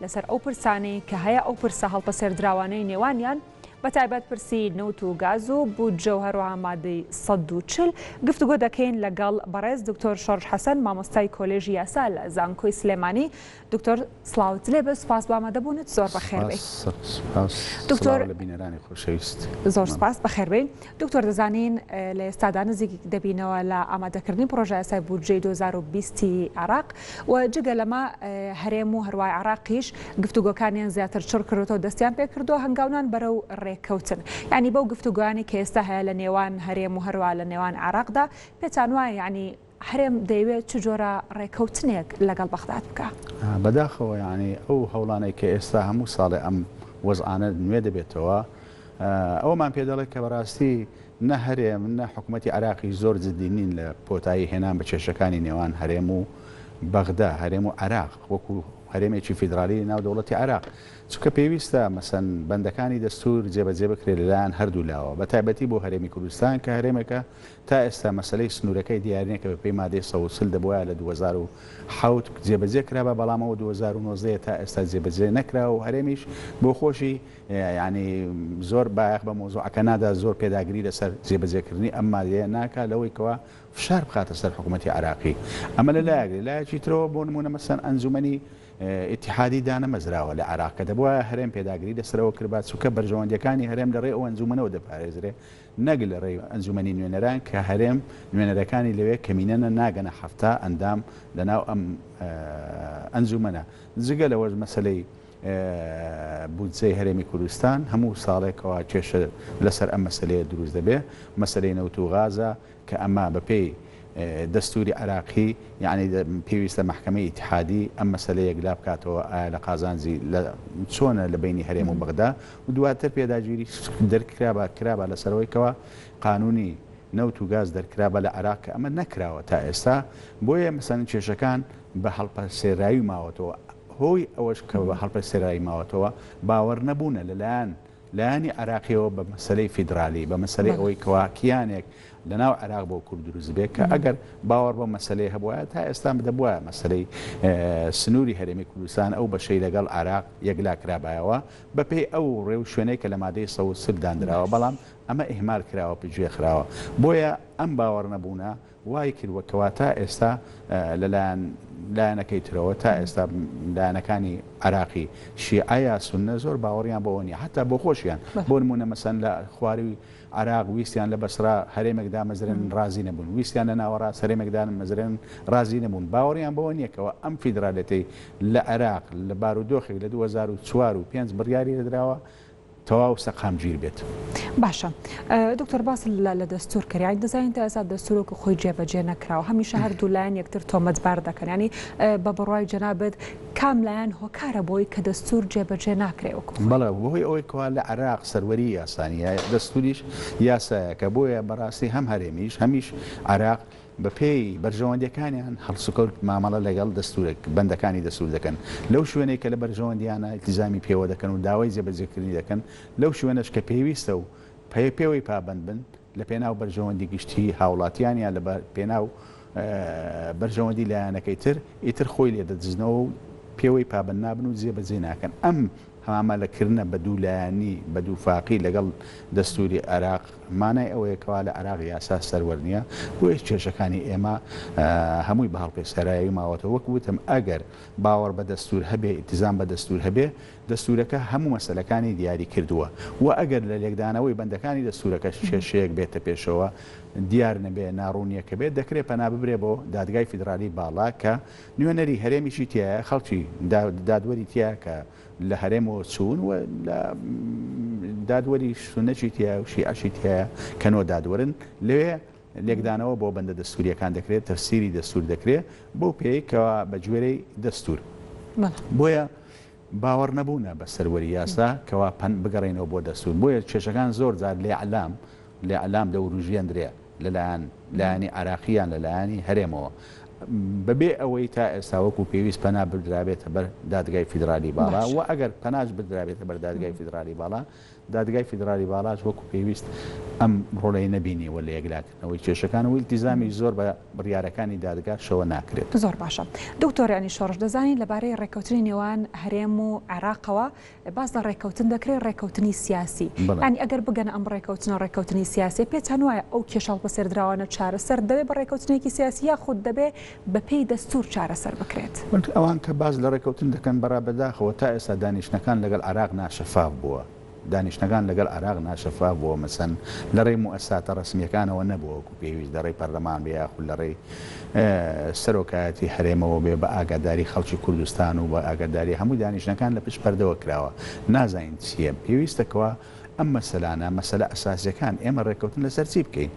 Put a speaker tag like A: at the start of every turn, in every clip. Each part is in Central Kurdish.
A: لەسەر ئەو پرسانەی کە هەیە، ئەو پرسە هەڵپەسێردراوانەی نێوانیان، بە تایبەت پرسی نەوت و گاز و بودجە و هەروەها مادەی سەد و چل، گفتوگۆ دەکەین لەگەڵ بەڕێز دکتۆر شۆرش حەسەن، مامۆستای کۆلێژی یاسا لە زانکۆی سلێمانی. دکتۆر سڵاوت لێ بێت، سوپاس بۆ ئامادەبوونت، زۆر بەخێربێی. سپاس، سڵاو
B: لە بینەرانی خۆشەویست. زۆر سپاس،
A: بەخێربێی. دکتۆر دەزانین لە ئێستادا نزیک دەبینەوە لە ئامادەکردنی پڕۆژە یاسای بودجەی دوو هەزار و بیست عێراق و جگە لەمە هەرێم و هەروای عێراقیش گفتوگۆکانیان زیاتر چڕ کردوەوە دەستیان پێ کردو هەنگاونان بەرەو ڕێککەوتن یعنی بەو گفتوگۆیانی کە ئێستا هەیە لە نێوان هەرێم و هەروا لە نێوان عێراقدا پێتان وایە یعنی هەرێم دەیەوێت چ جۆرە ڕێکەوتنێک لەگەڵ بەغداد بکا؟ بەداخەوە
B: یانی ئەو هەوڵانەی کە ئێستا هەموو ساڵێ ئەم وەزعانە نوێ دەبێتەوە ئەوەمان پێ دەڵێت کە بەڕاستی نە هەرێم نە حکوومەتی عراقی زۆر جددی نین لە کۆتایی هێنان بە کێشەکانی نێوان هەرێم و بەغدا هەرێم و عراق وەکو هەرێمێکی فیدرالی ناو دەوڵەتی عراق چونکە پێویستە مەسەن بەندەکانی دەستور جێبەجێ بکرێت لەلایەن هەردوو لاوە بە تایبەتی بۆ هەرێمی کوردستان کە هەرێمێکە تا ئێستا مەسەلەی سنوورەکەی دیارنیە کە بەپێی مادەی سەد و چل دەبوایە لە دوو هەزار و حەوت جێبەجێ کرابا بەڵام ئەوە دوو هەزار و نۆزدە یە تا ئێستا جێبەجێ نەکراوە و هەرێمیش بۆ خۆشی یانی زۆر بایەخ بە مەوزوعەکە نادا زۆر پێداگری لەسەر جێبەجێکردنی ئەم مادەیە ناکا لەوەی کەوا فشار بخاتە سەر حکومەتی عێراقی ئەمە لە لایەک لە لایەکی ترەوە بۆ نمونە مەسەن ئەنجومەنی ئیتیحادی دانەمەزراوە لە عێراق کە دەبوایە هەرێم پێداگری لەسەرەوە کربا چونکە بەرژەوەندیەکانی هەرێم لەڕێ ئەو ئەنجومەنەوە دەپارێزرێ نەک لە رێی ئەنجومەنی نوێنەران کە هەرێم نوێنەرەکانی لەوێ کەمینەنە ناگەنە حەفتا ئەندام لەناو ئەم ئەنجومەنە جگە لەوەش مەسەلەی بودجەی هەرێمی کوردستان هەموو ساڵێکەوە کێشە لەسەر ئەم مەسەلەیە دروست دەبێ مەسەلەی نەوت و غازە کە ئەمە بە پێی دەستوری عێراقی یەعنی پێویستە مەحکەمەی ئیتحادی ئەم مەسەلە یەکلا بکاتەوە ئایا لە قازانجی لە چۆنە لە بینی هەرێم و بەغدا و دواتر پێداگیری دەرکرابا کرابا لەسەرەوەی کەوا قانونی نەوت و گاز دەرکرابە لە عراق کە ئەمە نەکراوە تا ئێستا بۆیە مەسەن کێشەکان بە هەڵپە سێرایی ماوەتەوە هۆی ئەوەش کە بە هەڵپە سێرایی ماوەتەوە باوەڕ نەبوونە لەلایەن لایەنی عێراقیەوە بە مەسەلەی فیدرالی، بە مەسەلەی ئەوەی کەوا کیانێک لە ناو عێراق بۆ کورد دروست بێ کە ئەگەر باوەڕ بەم مەسەلەیە هەبوایە تا ئێستا دەبوایە مەسەلەی سنووری هەرێمی کوردستان ئەو بەشەی لەگەڵ عێراق یەکلا کرابایەوە بە پێی ئەو ڕێ و شوێنەی کە لە مادەی سەد و چل دانراوە بەڵام ئەمە ئیهمال کراوە پشتگوێ خراوە بۆیە ئەم باوەڕنەبوونە وای کردووە کەوا تا ئێستا لە لایەن لایەنەکەی ترەوە تا ئێستا لایەنەکانی عێراقی شیعە یا سوننە زۆر باوەڕیان بەوە نییە حەتا بۆ خۆشیان بۆ نموونە مەسەن لە خوارووی عێراق ویستیان لە بەسرا هەرێمێک دامەزرێنن ڕازی نەبوون ویستیان لە ناوەڕاست هەرێمێک دامەزرێنن ڕازی نەبوون باوەڕیان بەوە نییە کەوا ئەم فیدرالیەتەی لە عێراق لە بارودۆخێک لە دوو هەزار و چوار و پێنج بڕیاری لێدراوە تەواو سەقام گیر بێت. باشە
A: دکتۆر باس لە لە دەستور کرد یانی دەزانین تا ئێستا دەستور وەکو خۆی جێبەجێ نەکراوە هەمیشە هەردوو لایەن یەکتر تۆمەتبار دەکەن ینی بە بڕای جەنابەت کام لایەن هۆکارە بۆی کە دەستور جێبەجێ ناکرێ وەکو بەڵێ بۆی ئەوەی کوا
B: لە عراق سەروەری یاسانیە دەستوریش یاسایەکە بۆیە بەڕاستی هەم هەرێمیش هەمیش عراق بەپێی بەرژەوەندیەکانیان هەڵسوکەوت مامەڵە لەگەڵ دەستورە بەندەکانی دەستور دەکەن لەو شوێنەی کە لە بەرژەوەندیانە ئیلتیزامی پێوە دەکەن و داوای جێبەجێکردنی دەکەن لەو شوێنەش کە پێویستە و پێوەی پابەند بن لە پێناو بەرژەوەندی گشتیی هاوڵاتیان یان لە پێناو بەرژەوەندی لایەنەکەی تر ئیتر خۆی لێدەدزنەوە و پێوەی پابەند نابن و جێبەجێی ناکەن ئەم هەمامەلەکردنە بە دوو لایەنی بە دوو فاقی لەگەڵ دەستووری عێراق مانای ئەوەیە کەوا لە عێراق یاسا سەروەر نییە، بۆیەش کێشەکانی ئێمە هەمووی بە هەڵپێستێرایەوی ماوەتەوە، وەک وتم ئەگەر باوەڕ بە دەستوور هەبێ، ئیلتیزام بە دەستوور هەبێ، دەستوورەکە هەموو مەسەلەکانی دیاری کردووە و ئەگەر لە لێکدانەوەی بەندەکانی دەستوورەکەش کێشەیەک بێتە پێشەوە دیار نەبێ، ناڕوونییەکە بێت، دەکرێ پەنا ببرێ بۆ دادگای فیدرالیی باڵا کە نوێنەری هەرێمیشی تیایە، خەڵکی دادوەری تیایە کە لە هەرێمەوە چوون و لە دادوەری سوننەشی تیایە و شیعەشی تیایە کە نۆ دادوەرن. لەوێ لێکدانەوە بۆ بەندە دەستوورییەکان دەکرێت، تەفسیری دەستوور دەکرێت بەو پێیەی کە بە گوێرەی دەستوور. بۆیە باوەڕنەبوونە بە سەروەری یاسا، کەوا پەن بگەڕێینەوە بۆ دەستوور، بۆیە کێشەکان زۆر جار لە ئیعلام، الاعلام، دەوروژێندرێ، لە لایەن لایەنی عێراقی یان لە لایەنی هەرێمەوە، بە بێ ئەوەی تا ئێستا وەکوو پێویست پەنا بردرابێتە بەر دادگای فیدرالی باڵا، باشە. وە ئەگەر پەناش بردرابێتە بەر دادگای فیدرالی باڵا، دادگای فیدرالی باڵاش وەکو پێویست ئەم ڕۆڵەی نەبینی و لە یەکلاکردنەوەی کێشەکان و ئیلتیزامی زۆر بە بڕیارەکانی دادگا شەوە ناکرێت. زۆر باشە
A: دکتۆر یانی شۆڕش دەزانین لەبارەی ڕێککەوتنی نێوان هەرێم و عێراقەوە باس لە ڕێککەوتن دەکرێت ڕێککەوتنی سیاسی ینی ئەگەر بگەنە ئەم ڕێککەوتنە ڕێککەوتنی سیاسی پێتان وایە ئەو کێشاڵ بەسێردراوانە چارەسەر دەبێت بە ڕێککەوتنێکی سیاسی یاخود دەبێت بەپێی دەستوور چارەسەر بکرێت. وەک ئەوان کە باس
B: لە ڕێککەوتن دەکەن، بەڕا بەداخەوە تا ئێستا دانیشتنەکان لەگەڵ عێراق ناشەفاف بووە. دانیشتنەکان لەگەڵ عێراق ناشەفاف بووە، مەسەن لە ڕێی موئەسساتە ڕەسمییەکانەوە نەبووە وەکو پێویست، لە ڕێی پەرلەمان بێ یاخود لە ڕێی سەرۆکایەتی هەرێمەوە بێ بە ئاگاداری خەڵکی کوردستان و بە ئاگاداری هەمووی دانیشتنەکان لە پشت پەردەوە کراوە نازانین چییە. پێویستە کەوا ئەم مەسەلانە، مەسەلە ئەساسییەکان ئێمە ڕێککەوتن لەسەر چی بکەین؟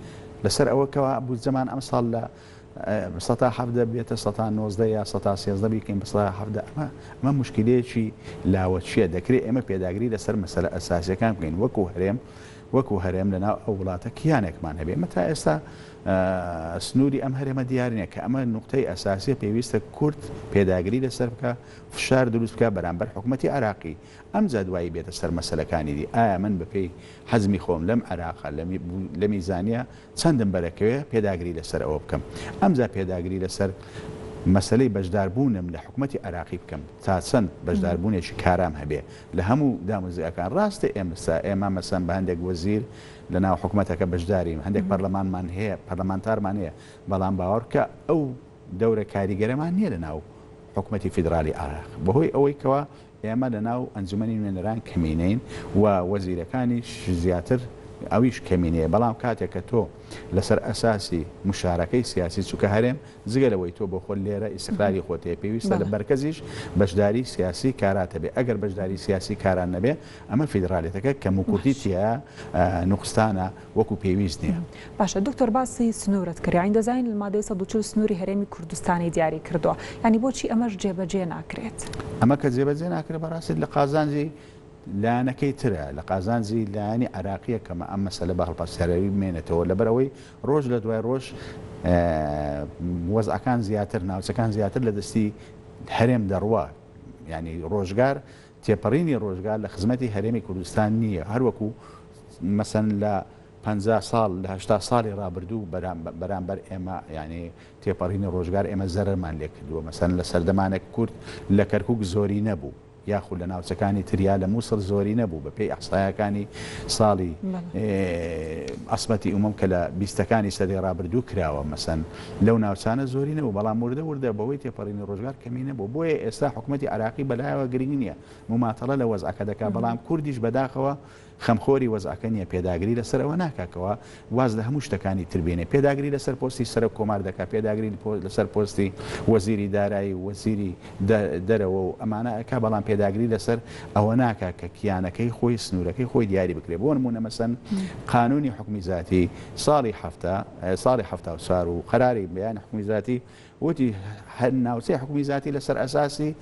B: لەسەر ئەوە کەوا بودجەمان ئەمساڵ لە. سەتا حەڤدە بێتە سەتا نۆزدە یا سەتا سێزدە بیکەین بە سەتا حەڤدە ئەمە ئەمە مشکلەیەکی لاوەکیە دەکرێت ئێمە پێداگری لەسەر مەسەلە ئەساسیەکان بکەین وەکو هەرێم وەکو هەرێم لەناو ئەو وڵاتە کیانێکمان هەبێ ئمە تا ئێستا سنووری ئەم هەرێمە دیارنیە کە ئەمە نقطەی ئەساسیە پێویستە کورد پێداگری لەسەر بکە فشار دروست بکە بەرامبەر حکوومەتتی عراقی ئەم جادوایی بێتە سەر مەسلەکانی دی ئایا من بەپێی حەزمی خۆم لەم عراقا لەمی زانە چەندم بەرەکەوێ پێداگری لەسەر ئەوە بکەم. ئەمجا پێداگری لەسەر مەسەلەی بەشداربوونم لە حکومەتی عێراقی بکەم، تا چەند بەشداربوونێکی کارام هەبێ لە هەموو داموزیاکان. راستە ئێمسا ئێمە مەسەن بە هەندێک وەزیر لە ناو حکومەتەکە بەشدارین، هەندێک پەرلەمانمان هەیە، پەرلەمانتارمان هەیە، بەڵام باوەڕبکە ئەو دەورە کاریگەرەمان نیە لە ناو حکومەتی فیدرالی عێراق، بەهۆی ئەوەی کەوا ئێمە لە ناو ئەنجومەنی نوێنەران کەمینەین و وەزیرەکانیش زیاتر ئەویش کەمینەیە بەڵام کاتێک کە تۆ لەسەر ئەساسی مشارەکەی سیاسی چونکە هەرێم جگە لەوەی تۆ بۆ خۆت لێرە ئیستقراری خۆت هەیە پێویستە لە مەرکەزیش بەشداری سیاسی کارات هەبێ ئەگەر بەشداری سیاسی کاران نەبێ ئەمە فیدڕالیەتەکە کەموکورتی تیا نوقستانە وەکو پێویست نیە. باشە دکتۆر باسی
A: سنورت کرد یانی دەزانین المادەی سەد و چل سنوری هەرێمی کوردستانی دیاری کردوە یانی بۆچی ئەمەش جێبەجێ ناکرێت؟ ئەمە کە جێبەجێ
B: ناکرێت بەڕاستی لە قازانجی لایەنەکەی ترە لە قازانجی لایەنی عراقیە کەمە ئەم مەسەلە بە هەڵپەسێراوی بمێنێتەوە لەبەرەوەی ڕۆژ لە دوای ڕۆژ وەزعەکان زیاتر ناوچەکان زیاتر لە دەستی هەرێم دەڕوە ینی ڕۆژگار تێپەڕینی ڕۆژگار لە خزمەتی هەرێمی کوردستان نییە، هەروەکو مەسەن لە پەنجا ساڵ، لە هەشتا ساڵی ڕابردوو بەرامبەر ئێمە، یانی تێپەڕینی ڕۆژگار ئێمە زەرەرمان لێکردووە، مەسەن لە سەردەمانێک کورد لە کەرکوک زۆرینە بوو، یاخود لە ناوچەکانی تر یا لە موسڵ زۆرینە بوو، بەپێی ئیحسایەکانی ساڵی عەسمەتی ئومەم کە لە بیستەکانی سەدەی ڕابردوو کراوە، مەسەن. لەو ناوچانە زۆری نەبوو، بەڵام وردە وردە بەهۆی تێپەڕینی ڕۆژگار کەمی نەبوو، بۆیە ئێستا حکومەتی عێراقی بەلایەوە گرنگ نییە، مماتەڵە لە وەزعەکە دەکات، بەڵام کوردیش بەداخەوە خەمخۆری وەزعەکە نییە، پێداگری لەسەر ئەوە ناکات کەوا واز لە هەموو شتەکانی تر بێنێت، پێداگری لەسەر پۆستی سەرۆک کۆمار دەکات، پێداگری لەسەر پۆستی وەزیری دارایی و وەزیری دەرەوە و ئەمانە ئەکات، بەڵام پێداگری لەسەر ئەوە ناکات کە کیانەکەی خۆی سنوورەکەی خۆی دیاری بکرێت، بۆ نموونە مەسەن قانوونی حوکمی زاتی ساڵی حەفتا ساڵی حەفتا و چار و قەراری بەیانی حکومی زاتی وتی هەر ناوچەی حکومی زاتی لەسەر ئەساسی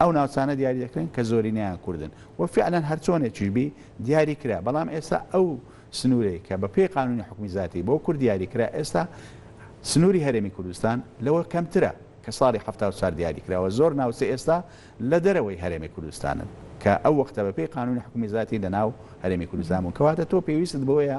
B: ئەو ناوچانە دیاری دەکرێن کە زۆرینەیان کوردن و فعلەن هەرچۆنێکیش بی دیاری کرا بەڵام ئێستا ئەو سنوورەی کە بە پێی قانونی حکومی زاتی بۆ کورد دیاری کرا ئێستا سنووری هەرێمی کوردستان لەوە کەمترە کە ساڵی حەفتا و چار دیاری کراوە زۆر ناوچە ئێستا لە دەرەوەی هەرێمی کوردستانن کە ئەو وەختە بە پێی قانونی حکومی زاتی لە ناو هەرێمی کوردستان بوون کەواتە تۆ پێویستت بەوەیە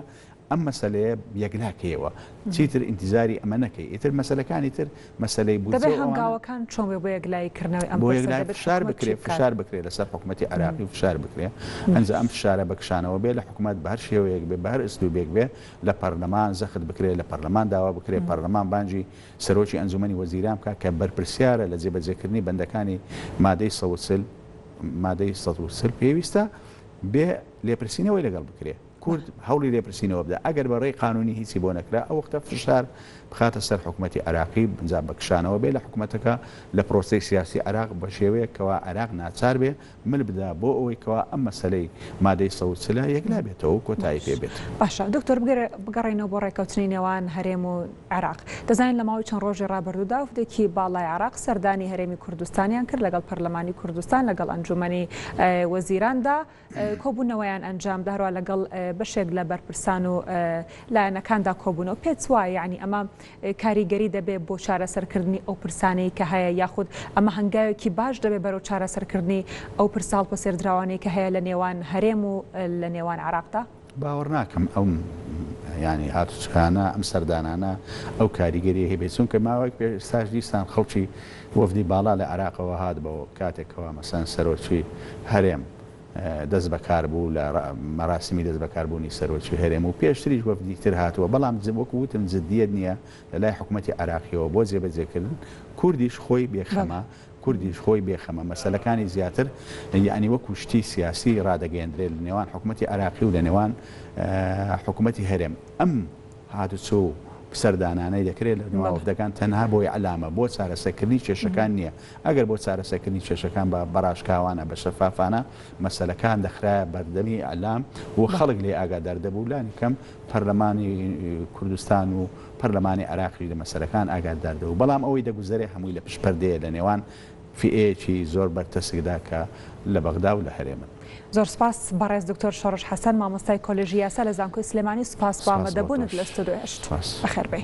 B: ئەم مەسەلەیە یەکناکەیەوە چیتر ئینتیزاری ئەمە نەکەی ئیتر مەسەلەکانی تر مەسەلەی بودجە و ئەوانە. دەبێت هەنگاوەکان چۆن بێت بۆ
A: یەکلایی کردنەوەی ئەم پرسە دەبێت حکومەت چی بکات؟ بۆ یەکلایی فشار بکرێت
B: فشار بکرێت لەسەر حکومەتی عێراقی فشار بکرێت ئەنجا ئەم فشارە بە کشانەوە بێت لە حکومەت بە هەر شێوەیەک بێت بە هەر ئسلوبێک بێت لە پەرلەمان زەخت بکرێت لە پەرلەمان داوا بکرێت پەرلەمان بانگی سەرۆکی ئەنجومەنی وەزیران بکات کە بەرپرسیارە لە جێبەجێکردنی بەندەکانی مادەی سەد و چل مادەی سەد و چل پێویستە بێت لێپرسینەوەی لەگەڵ بکرێت. کورد هەوڵی لێپرسینەوە بدا، ئەگەر بە رێی قانونی هیچی بۆ نەکرا، ئەو وەختە فشار بخاتە سەر حکومەتی عێراقی، ئەنجام بە کشانەوە بێ لە حکومەتەکە لە پرۆسەی سیاسی عێراق، بە شێوەیەک کەوا عێراق ناچار بێ مل بدا بۆ ئەوەی کەوا ئەم مەسەلەی مادەی سەد و چل ە یەکلا بێتەوە و کۆتایی پێ بێت. باشە دکتۆر بگەرێ
A: بگەڕێینەوە بۆ رێککەوتنی نێوان هەرێم و عێراق، دەزانین لە ماوەی چەند رۆژی رابردوودا وفدێکی باڵای عێراق سەردانی هەرێمی کوردستانیان کرد لەگەڵ پەرلەمانی کوردستان لەگەڵ ئەنجوومەنی وەزیراندا، کۆبوونەوەیان ئەنجامدا، هەروەها لەگەڵ بەشێک لە بەرپرسان و لایەنەکاندا کۆبوونەوە، پێتوایە یانی ئەمە کاریگەری دەبێت بۆ چارەسەرکردنی ئەو پرسانەی کە هەیە، یاخود ئەمە هەنگاوێکی باش دەبێت بەرەو چارەسەرکردنی ئەو پرسە هەڵپەسێردراوانەی کە هەیە لە نێوان هەرێم و لە نێوان عێراقدا؟ باوەڕناکەم
B: ئەم یانی هاتوچکانە، ئەم سەردانانە ئەو کاریگەرییەی هەبێت، چونکە ماوەیەک پێش ئێستاش دیسان خەڵکی وەفدی باڵا لە عێراقەوە هات بۆ کاتێک کەوا مەسەلەن سەرۆکی هەرێم دەست بەکار بوو لە مەراسمی دەست بەکار بوونی سەرۆکی هەرێم و پێشتریش وەفدی تر هاتووە بەڵام وەکو وتم جدیت نییە لەلای حکومەتی عێراقیەوە بۆ جێبەجێکردن کوردیش خۆی بێخەمە کوردیش خۆی بێ خەمە، مەسەلەکانی زیاتر یەعنی وەکو شتی سیاسی ڕادەگەیەندرێت لە نێوان حکومەتی عێراقی و لە نێوان حکومەتی هەرێم. ئەم هاتوچۆ و سەردانانەی دەکرێت لە نێوان وەفدەکان تەنها بۆ ئیعلامە، بۆ چارەسەکردنی کێشەکان نییە. ئەگەر بۆ چارەسەکردنی کێشەکان بە بەڕاشکاوانە، بە شەفافانە مەسەلەکان دەخرایە بەردەمی ئیعلام و خەڵک لێ ئاگادار دەبوو، لانی کەم پەرلەمانی کوردستان و پەرلەمانی عێراقیش لە مەسەلەکان ئاگادار دەبوو، بەڵام ئەوەی دەگوزەرێ هەمووی لە پشت پەردەیە لە نێوان فئەیەکی زۆر بەرتەسکدا کە لە بەغدا و لە هەرێمن. زۆر سپاس
A: بەڕێز دکتۆر شۆڕش حەسەن مامۆستای کۆلێژی یاسا لە زانکۆی سلێمانی سوپاس بۆ سپاس بۆ ئامادەبوونت لە تۆش ستۆدیۆ هەشت. سپاس. بەخێربێی.